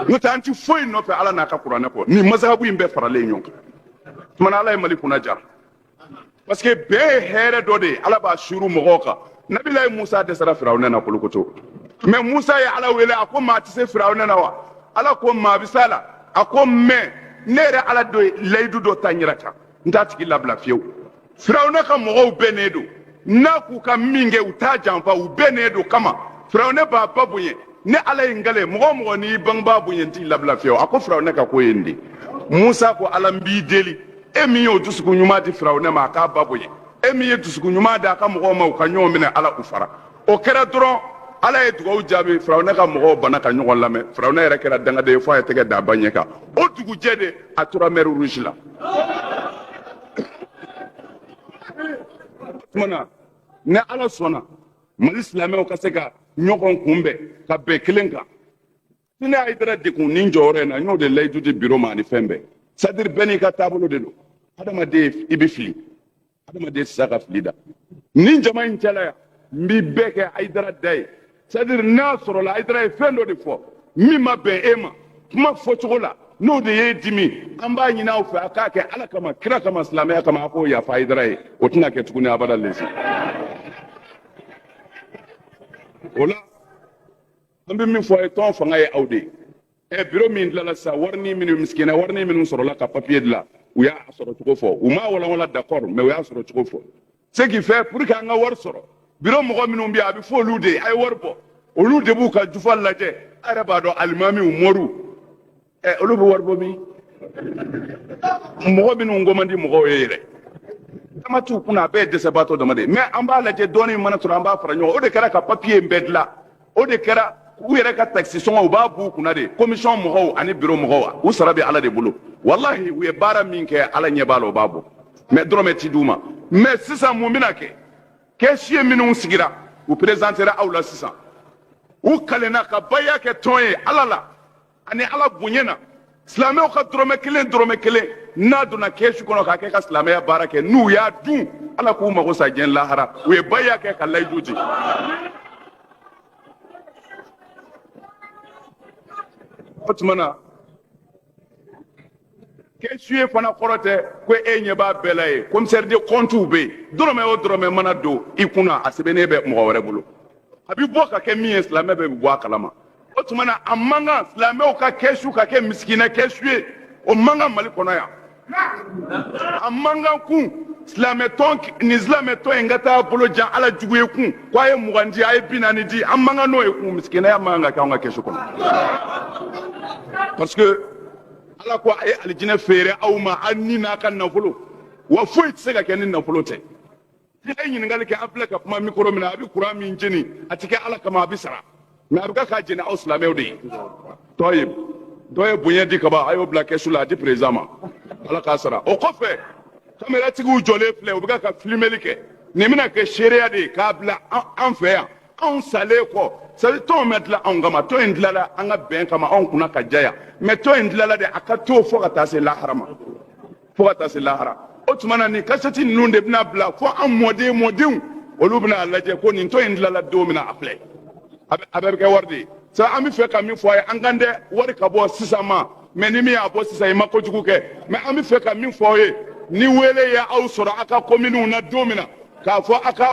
n'o tɛ an ti foyi nɔfɛ ala n'a ka kuranɛ kɔ nin mazahabu in bɛɛ faralen ɲɔgɔn kan tumana ala ye mali kunna jara parce que bɛn ye hɛrɛ dɔ de ye ala b'a suuru mɔgɔw kan nabilayi musa dɛsɛra firawunɛ na kolokoto mɛ musa ye ala wele a ko maa tɛ se firawunɛ na wa ala ko maa bɛ s'a la a ko mɛ ne yɛrɛ ala dɔ ye layidu dɔ ta n yɛrɛ kan n t'a tigi labila fiyewu firawuna ka mɔgɔw bɛnnen don n'a k'u ka min kɛ u t'a janfa u bɛnnen don kama firawuna b'a ba bonya ne ala ye n kali mɔgɔ mɔgɔ n'i bangebaa bonya n t'i labila fiyewu a ko firawuna ka ko ye nin de musa ko ala n b'i deli e min y'o dusukun ɲuman di firawuna ma a k'a ba bonya e min ye dusukun ɲuman di a ka mɔgɔw ma u ka ɲɔgɔn minɛ ala u fara o kɛra dɔrɔn ala ye dugawu jaabi firawuna ka mɔgɔw banna ka ɲɔgɔn lamɛn firawuna yɛrɛ kɛra dangaden ye fo a ye tɛgɛ da a ba ɲɛ kan o dugujɛ de a tora mer rouge la na ni ala sɔnna mali silamɛw ka se ka ɲɔgɔn kunbɛn ka bɛn kelen kan ni ne ayidara de kun ni jɔyɔrɔ in na n y'o de layidu di biro ma ani fɛn bɛɛ c'est-à-dire bɛɛ n'i ka taabolo de don hadamaden i bɛ fili hadamaden tɛ se ka fili da nin jama in cɛla yan n b'i bɛɛ kɛ ayidara da ye c'est-à-dire n'a sɔrɔla ayidara ye fɛn dɔ de fɔ min ma bɛn e ma kuma fɔcogo la n'o de y'e dimi an b'a ɲini aw fɛ a k'a kɛ ala kama kira kama silamɛya kama a k'o yafa ayidara ye o tɛna kɛ tuguni abada lesi o la an bɛ min fɔ a ye tɔn fanga ye aw de ye ɛ biro min dilala sisan warini minnu misikina warini minnu sɔrɔla ka papiye dila u y'a sɔrɔ cogo fɔ u m'a walawala d'accord mais u y'a sɔrɔ cogo fɔ ce qui fait pour que an ka wari sɔrɔ biro mɔgɔ minnu bɛ yen a bɛ fɔ olu de ye a ye wari bɔ olu de b'u ka jufa lajɛ a yɛrɛ b'a dɔn alimamiw mɔriw ɛ olu bɛ wari bɔ min mɔgɔ minnu ko man di mɔgɔw ye yɛrɛ dama t'u kunna a bɛɛ ye dɛsɛbaatɔ dama de ye mais an b'a lajɛ dɔɔnin mana sɔrɔ an b'a fara ɲɔgɔn o de kɛra ka papiye in bɛɛ dilan o de kɛra u yɛrɛ ka takisi sɔngɔ u b'a b'u kunna de komisɔn mɔgɔw ani biro mɔgɔw u sara bɛ ala de bolo walahi u ye baara min kɛ ala ɲɛ b'a la u b'a bɔ mɛ dɔrɔmɛ ti d'u ma mɛ sisan mun bɛna kɛ kɛsiye minnu sigira u perezantera aw la sisan u kalenna ka baya kɛ tɔn ye ala la ani ala bonya na silamɛw ka dɔrɔmɛ kelen dɔrɔmɛ kelen n'a donna kɛsu kɔnɔ k'a kɛ ka silamɛya baara kɛ n'u y'a dun ala k'u mago sa diɲɛ lahara u ye baya kɛ ka layidu di o tuma na kɛsu ye fana kɔrɔ tɛ ko e ɲɛ b'a bɛɛ la ye komisɛri de kɔntiw bɛ yen dɔrɔmɛ o dɔrɔmɛ mana don i kunna a sɛbɛnnen bɛ mɔgɔ wɛrɛ bolo a bɛ bɔ ka kɛ min ye silamɛ bɛ bɔ a kalama o tuma na a man kan silamɛw ka kɛsu ka kɛ misikinɛ kɛsu ye o man kan mali kɔnɔ yan a man kan kun silamɛtɔn nin silamɛtɔn in ka taa bolo jan ala jugu ye kun ko a ye mugan di a ye bi naani di an man kan n'o ye kun misikinɛya man kan ka kɛ an ka kɛsu kɔnɔ parce que ala ko a ye alijinɛ feere aw ma aw ni n'a ka nafolo wa foyi tɛ se ka kɛ ni nafolo tɛ n'i ye ɲininkali kɛ an filɛ ka kuma mikoro min na a bɛ kuran min jeni a tɛ kɛ ala kama a bɛ sara mais a bɛ kɛ k'a jeni aw silamɛw de ye dɔ ye bonya di kaban a y'o bila kɛsu la a di président ma ala k'a sara o kɔfɛ kameratigiw jɔlen filɛ u bɛ kɛ ka filimeli kɛ nin bɛna kɛ seereya de ye k'a bila an fɛ yan anw salen kɔ sabu tɔn ma dilan anw kama tɔn in dilanla an ka bɛn kama anw kunna ka jaya mais tɔn in dilanla de a ka to fo ka taa se lahara ma fo ka taa se lahara o tuma na nin kasɛti ninnu de bɛna bila fo an mɔden mɔdenw olu bɛna a lajɛ ko nin tɔn in dilanla don min na a filɛ a bɛɛ bɛ kɛ wari de ye sabu an bɛ fɛ ka min fɔ a ye an kan tɛ wari ka bɔ sisan ma mais ni min y'a bɔ sisan i ma kojugu kɛ mais an bɛ fɛ ka min fɔ aw ye ni wele ye aw sɔrɔ aw ka kominiw na don min na k'a fɔ aw ka